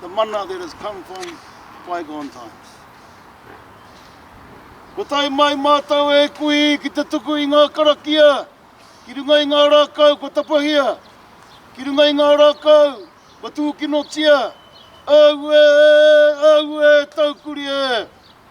the mana that has come from bygone times. Kua tae mai mātou e kui ki te tuku i ngā karakia, ki runga i ngā rākau kua tapahia, ki runga i ngā rākau kua tūkinotia, Aue, aue, taukuri e!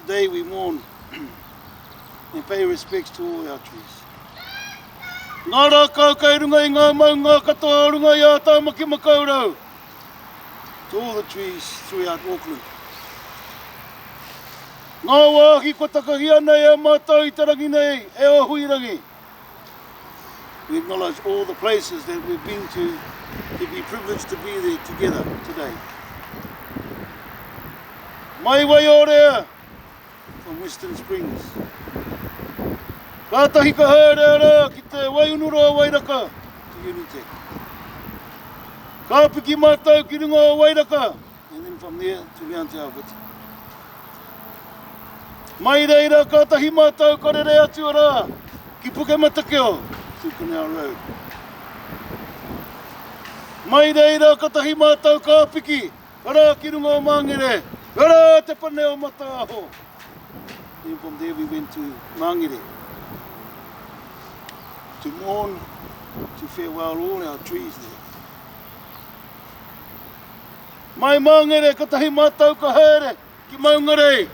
Today we mourn and pay respects to all our trees. Ngā rākau kai runga i ngā maunga katoa o runga i a Tāmaki Makaurau. To all the trees throughout Auckland. Ngā wāhi kua takahia nei e mātou i te rangi nei, e o Huirangi. We acknowledge all the places that we've been to to be privileged to be there together today. Mai Waiorea from Western Springs. Kātahi ka haere rā ki te Waiunuroa Wairaka to Unitec. Ka piki mātou ki runga o Wairaka, And then from there to round to our witi. Mai reira katahi matou ka rere atu ara ki Pukematakeo to Canal Road. Mai reira katahi matou ka piki ara ki runga o Mangere, ara te pane o Mataaho. Then from there we went to Mangere to mourn, to farewell all our trees there. Mai Mangere, kotahi mātou ka haere ki Maungarei.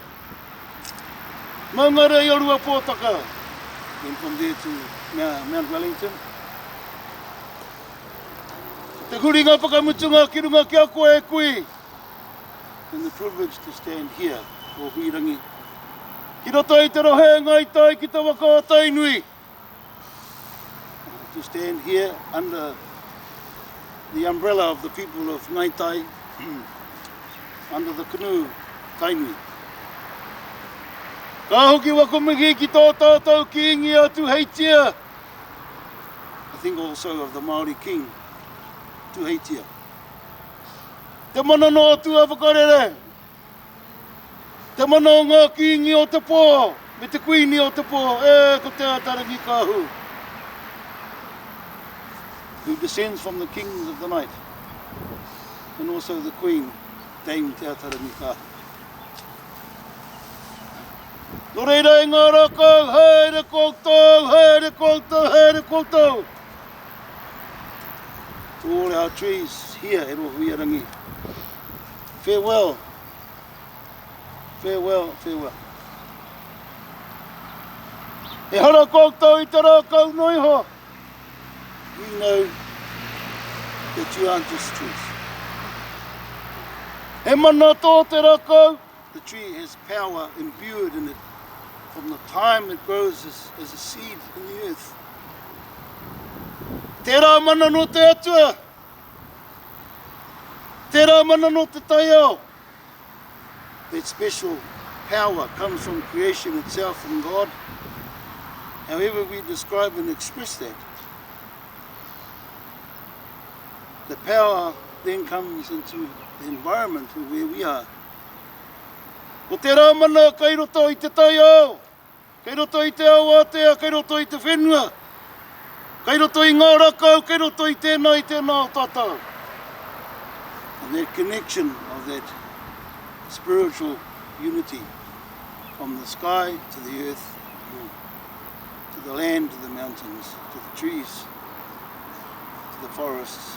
Maungarei o Ruapōtaka. Then from there to Mount Wellington. Ko te huringa whakamutunga ki runga ki a koe e kui. And the privilege to stand here, o Huirangi. Ki roto i te rohe e Ngāi Tai ki te waka o Tainui. to stand here under the umbrella of the people of Ngai Tai, under the canoe Tainui. Ka hoki wako mihi ki tō tātou kīngi a Tuheitia, I think also of the Māori King, Tuheitia. Te mana nō tua whakarere, Te mana o ngā kīngi o te pō me te kuini o te pō, ē, ko Te Atarangi-kāhu. Who descends from the kings of the night and also the queen, Dame Te Atarangi-kāhu. Nō reira e ngā rākau, haere koutou, haere koutou, haere koutou! To all our trees, here at Ohuiarangi. Farewell, farewell, farewell. Ehara koutou i te rākau noa iho. We know that you aren't just trees. He mana tō te rākau. The tree has power imbued in it from the time it grows as, as a seed in the earth. Tērā mana no te Atua. Tērā mana nō te taiao. That special power comes from creation itself, from God. However we describe and express that, the power then comes into the environment of where we are. Ko tērā mana kai roto i te taiao, Kei roto i te ao ātea, kei roto i te whenua, kei roto i ngā rakau, kei roto i tēnā, i tēnā o tātou. And that connection of that spiritual unity from the sky to the earth, to the land, to the mountains, to the trees, to the forests,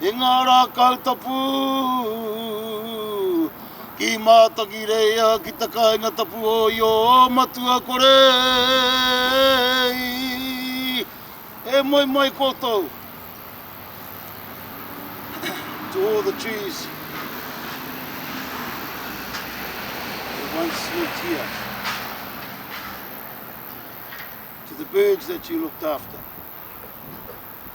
I ngā rā kau tapu, ki Mātakireia, ki te kāinga tapu o Iōmatuakore, e moe mai koutou, to all the trees that once lived here, to the birds that you looked after.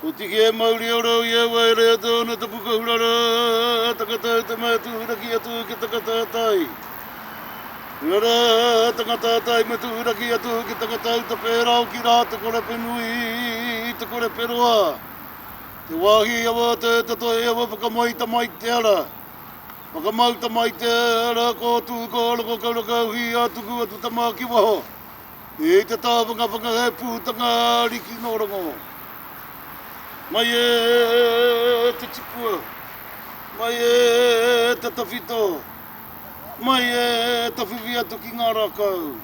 Ko Tiki e mauri ora au i a wai re atu ana te puka hura ra, takata au te mea tuhuraki atu ki takata atai. Hura ra, takata atai me tuhuraki atu ki takata au te pera oki ra, te kore penui, te kore peroa, te wahi awa te te tohe awa whakamai tamai te ara, whakamau tamai te ara ko tu ko roko kauraka au hi a tuku atu tama ki waho. E te taha whakawhaka he pūtanga ariki nō rongo. Mai e te tipua, mai e te tawhito, mai e tawhiwhi atu ki ngā rākau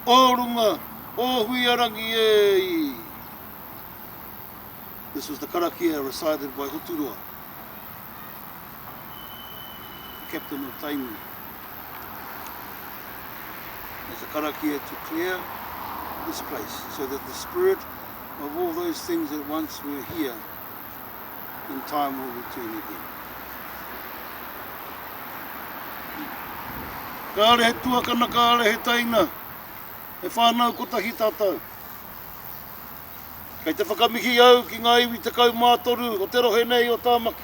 o runga o Huiarangi e i! This was the karakia recited by Hoturoa. the captain of Tainui. As a karakia to clear this place so that the spirit of all those things that once were here in time will return again. Kāre he tuakana, kāre he taina, he whānau kotahi tātou. Kei te whakamihi au ki ngā iwi tekau mā toru o te rohe nei o Tāmaki.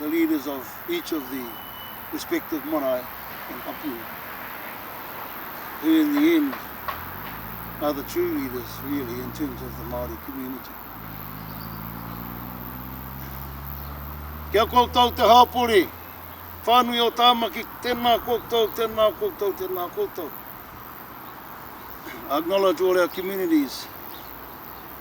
the leaders of each of the respective marae and hapu, who in the end are the true leaders really in terms of the Māori community. Kia koutou te hāpori, whānui o Tāmaki, tēnā koutou, tēnā koutou, tēnā koutou. I acknowledge all our communities.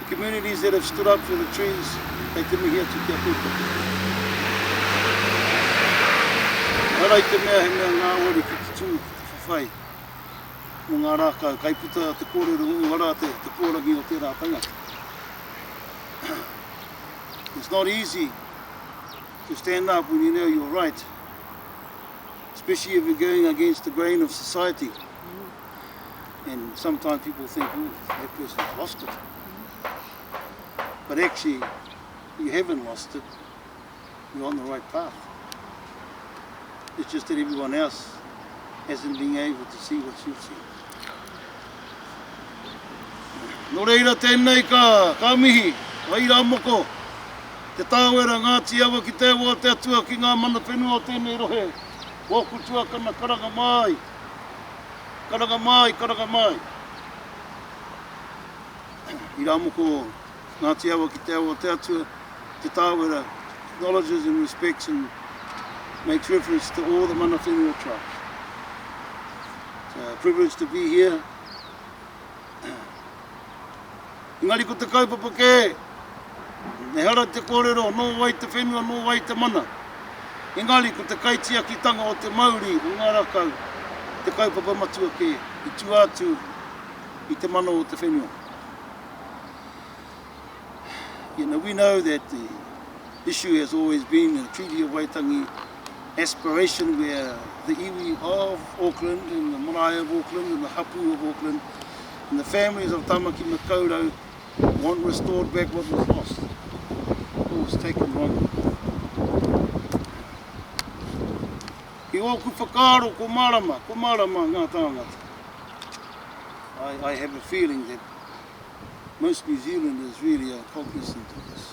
The communities that have stood up for the trees, kei te mihi atu ki a koutou. Ehara i te mea he mea ngāwari ki te tū, ki te whawhai mō ngā rākau, kai puta te kōrero uara te, te kōrangi o tērā tangata. It's not easy to stand up when you know you're right, especially if you're going against the grain of society. and sometimes people think oh that person's lost it but actually you haven't lost it you're on the right path it's just that everyone else hasn't been able to see what you've seen Nō reira tēnei ka, ka mihi, ka ira moko, te tāwera ngāti awa ki te awa te atua ki ngā mana whenua o tēnei rohe, wōku tuakana karanga māi, Karanga māi, karanga māi. I rā moko o Ngāti Awa ki te awa o te Atua, Te Tāwera acknowledges and respects and makes reference to all the mana whenua tribes. It's a privilege to be here. Engari ko te kaupapa kē, ehara te kōrero nō wai te whenua, nō wai te mana. Engari ko te kaitiakitanga o te mauri o ngā rākau te kaupapa matua kē i tua atu i te mana o te whenua. You know, we know that the issue has always been a Treaty of Waitangi aspiration where the iwi of Auckland and the marae of Auckland and the hapū of Auckland and the families of Tamaki Makaurau want restored back what was lost or was taken wrongly. I ōku whakaaro ko mārama, ko mārama ngā tāngata. I, I have a feeling that most New Zealanders really are cognizant of this.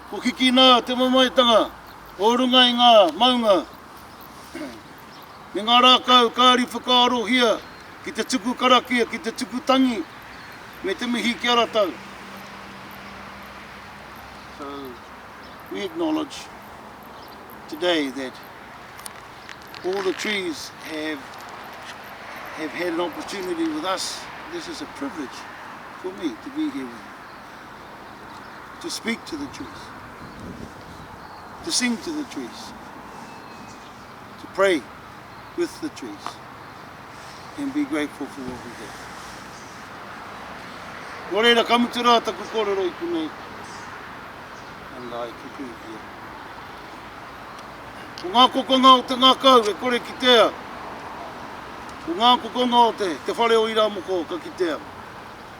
Ko Kikina te mamaetanga o runga i ngā maunga me ngā rākau kāri whakaarohia ki te tuku karakia, ki te tuku tangi me te mihi ki a ratou. So, we acknowledge today that all the trees have have had an opportunity with us. This is a privilege for me to be here with you. to speak to the trees, to sing to the trees, to pray with the trees, and be grateful for what we have. Nō reira, ka mutu rā taku kōrero i kunei, and I conclude here. Ko ngā kokonga o te ngākau e kore kitea, ko ngā kokonga o te, te whare o Iramoko ka kitea.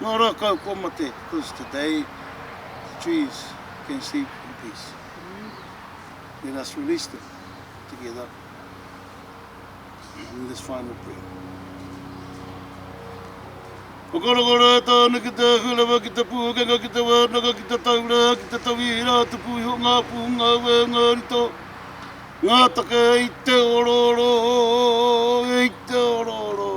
Ngā rākau kua mate, because today the trees can sleep in peace. Let us release them together in this final prayer. Whakarokoro e tāna ki te hulewa, ki te pūkenga, ki te wānaka, ki te taura, ki te tawi i rā tupu iho ngā pū, ngā wē, ngā rito, ngā take, hei te orooro, hei te orooro.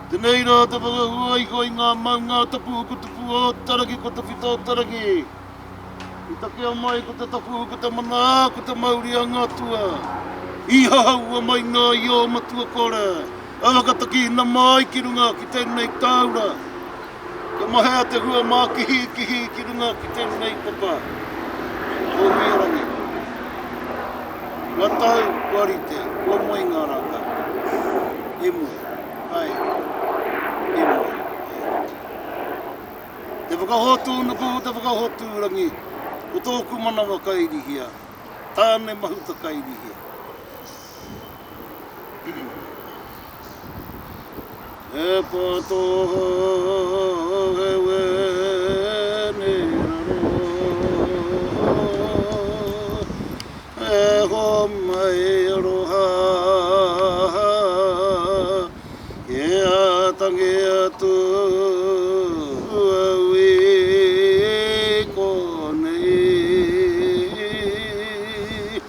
Tenei ra te whakahua iho i nga maunga tapu huku tupu o Taraki ko te whita o Taraki. I takea mai ko te tapu huku te mana a ko te mauri a nga tua. I hahaua mai nga io matua kore a whakatakihina mai ki runga ki tenei taura. Ka mahea te hua mākihikihi ki runga ki tēnei papa o Ingarangi. Kua tau, kua rite, kua moe ngā rākau. E moe, haere. E moe, haere ki. Te Whakahotu Nuku, te Whakahotu Rangi, ko tōku manawa kairihia, tāne mahuta kairihia. He poto he wēne raro E homai aroha Ki a tangi atu a ui konei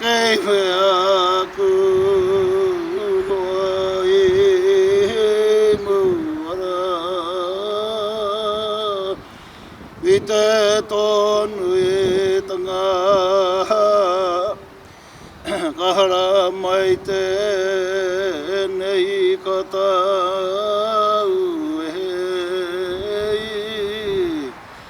Kei whea aku noa e he muara I te tonu e tanga Ka hara mai tenei ka tau